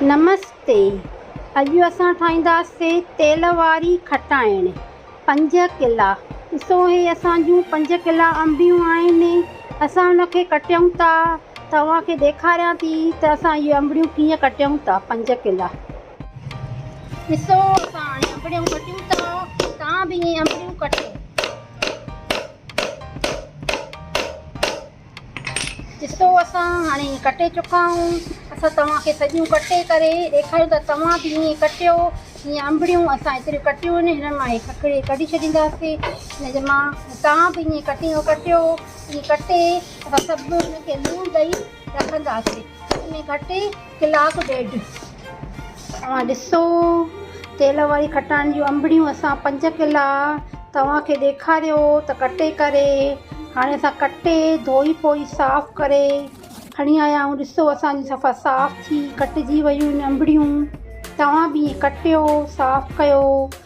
نمستي اڄ اسان ٺاهينداسي تيل واري کٽائڻ پنج ڪلا ڏسو هي اسان جون پنج ڪلا انبيون آهن اسان ان کي ڪٽيون ٿا توهان کي ڏيکاريان ٿي ته اسان اهي انبڙيون ڪيئن ڪٽيون ٿا پنج ڪلا ڏسو اسان هاڻي انبڙيون ڪٽيون ٿا توهان به اهي انبڙيون ڪٽيو ڏسو اسان هاڻي ڪٽي چڪا آهيون اسان توهان کي سڄيون ڪٽي ڪري ڏيکاريون ته توهان به ائين ڪٽيو جيئن انبڙيون اسان ايتريون ڪٽيون آهن هنن مان هي ککڙي ڪڍي ڇڏينداسي ان جي مان توهان به ائين ڪٽيو ڪٽيو ائين ڪٽي اسان سڀ هن کي لوڻ ڏئي رکنداسي ان کٽي ڪلاڪ ڏيڍ اوهان ڏسو تيل واري کٽان جون انبڙيون اسان پنج ڪلا توهان کي ڏيکاريو ته ڪٽي ڪري هاڻي اسان ڪٽي ڌوئي پوئي صاف ڪري کڻي آيا آهيون ڏسو اسان جون صفا صاف ٿي ڪٽجي ويون انبڙيون توهان به ائين ڪٽيو صاف ڪيو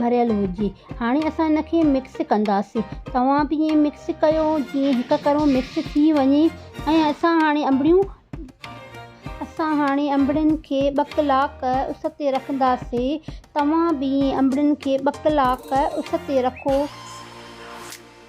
ڀريل هجي هاڻي اسان ان کي مڪس ڪنداسين توهان به ائين مڪس ڪيو جيئن هڪ ڪرو مڪس ٿي وڃي ۽ اسان هاڻي انبڙيون اسان هاڻي انبڙين کي ٻه ڪلاڪ اس تي رکنداسين توهان به ائين انبڙين کي ٻه ڪلاڪ اس تي رکو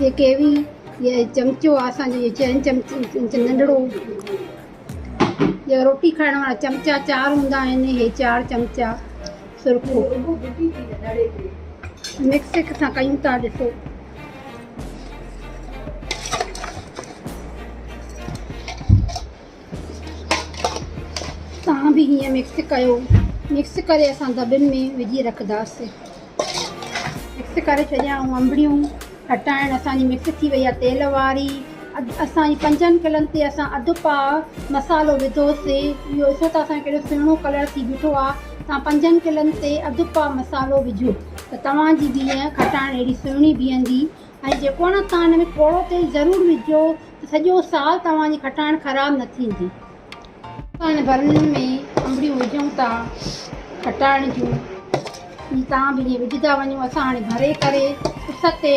هي ڪيوي يا چمچو آهي اسان جو هي چين چمچو ننڍڙو جيڪا روٽي کائڻ وارا چمچا چار هوندا آهن هي چار چمچا سرخو مڪس هڪ سان ڪيون ٿا ڏسو تان به هيئن مڪس ڪيو مڪس ڪري اسان دٻن ۾ وجهي رکنداسين مڪس ڪري ڇڏيائون انبڙيون کٽائڻ اسانجي مڪس ٿي وئي آهي تيل واري اسانجي پنجن ڪلن تي اسان اڌ پا مصالحو وڌوسي اهو ڏسو ته اسانجو ڪهڙو سهڻو ڪلر ٿي بيٺو آهي تان پنجن ڪلن تي اڌ پا مصالحو وجهو ته توهانجي بيهن کٽائڻ اهڙي سهڻي بيهندي ۽ جيڪو نه تان ان ۾ ٿورو تيل ضرور وجهجو ته سڄو سال توهان جي کٽائڻ خراب نه ٿيندي. اسان هن برنل ۾ انبڙيون وجهون ٿا کٽائڻ جون جي تان به ائين وجهدا وڃو اسان هاڻي ڀري ڪري اس تي ٽي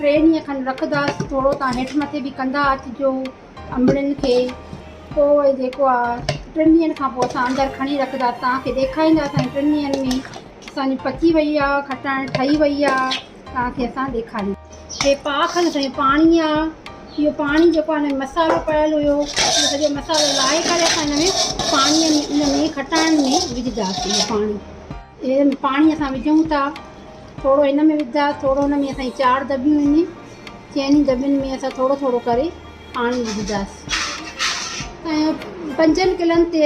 ڏينهن کن رکداس ٿورو تان هيٺ مٿي به ڪندا اچجو انبڙين کي پوء جيڪو آ ٽن ڏينهن کان پوء اسان اندر کڻي رکداس توهان کي ڏيکاريندا سائين ٽن ڏينهن ۾ اسان جي پچي وئي آ کٽائڻ ٺهي وئي آ. توهان کي اسان ڏيکاريون. هي پاڪ هنڌ ۽ پاڻي آ. اهو پاڻي جيڪو آ ان ۾ مصالحو پيل هيو اهو سڄو مصالحو لاهي ڪري اسان ان ۾ پاڻي ۾ ان ۾ کٽائڻ ۾ وجهداسين اهو پاڻي اهي پاڻي اسان وجهون ٿا ٿورو ان ۾ وجهدا ٿورو ان ۾ اسان جي چار دٻيون ان چئني دٻين ۾ اسان ٿورو ٿورو ڪري پاڻي وجهداسين ۽ پنجن ڪلن تي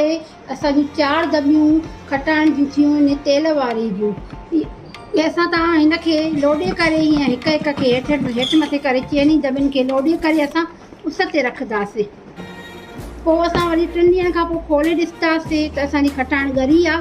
اسان جون چار دٻيون کٽائڻ جون ٿيون ان تيل واري جون ۽ اسان تان هن کي لوڏي ڪري ائين هڪ هڪ کي هيٺ هيٺ مٿي ڪري چئني دٻين کي لوڏي ڪري اسان اس تي رکنداسين پوء اسان وري ٽن ڏينهن کان پوء کولي ڏسنداسين ته اسان جي کٽائڻ ڳري آ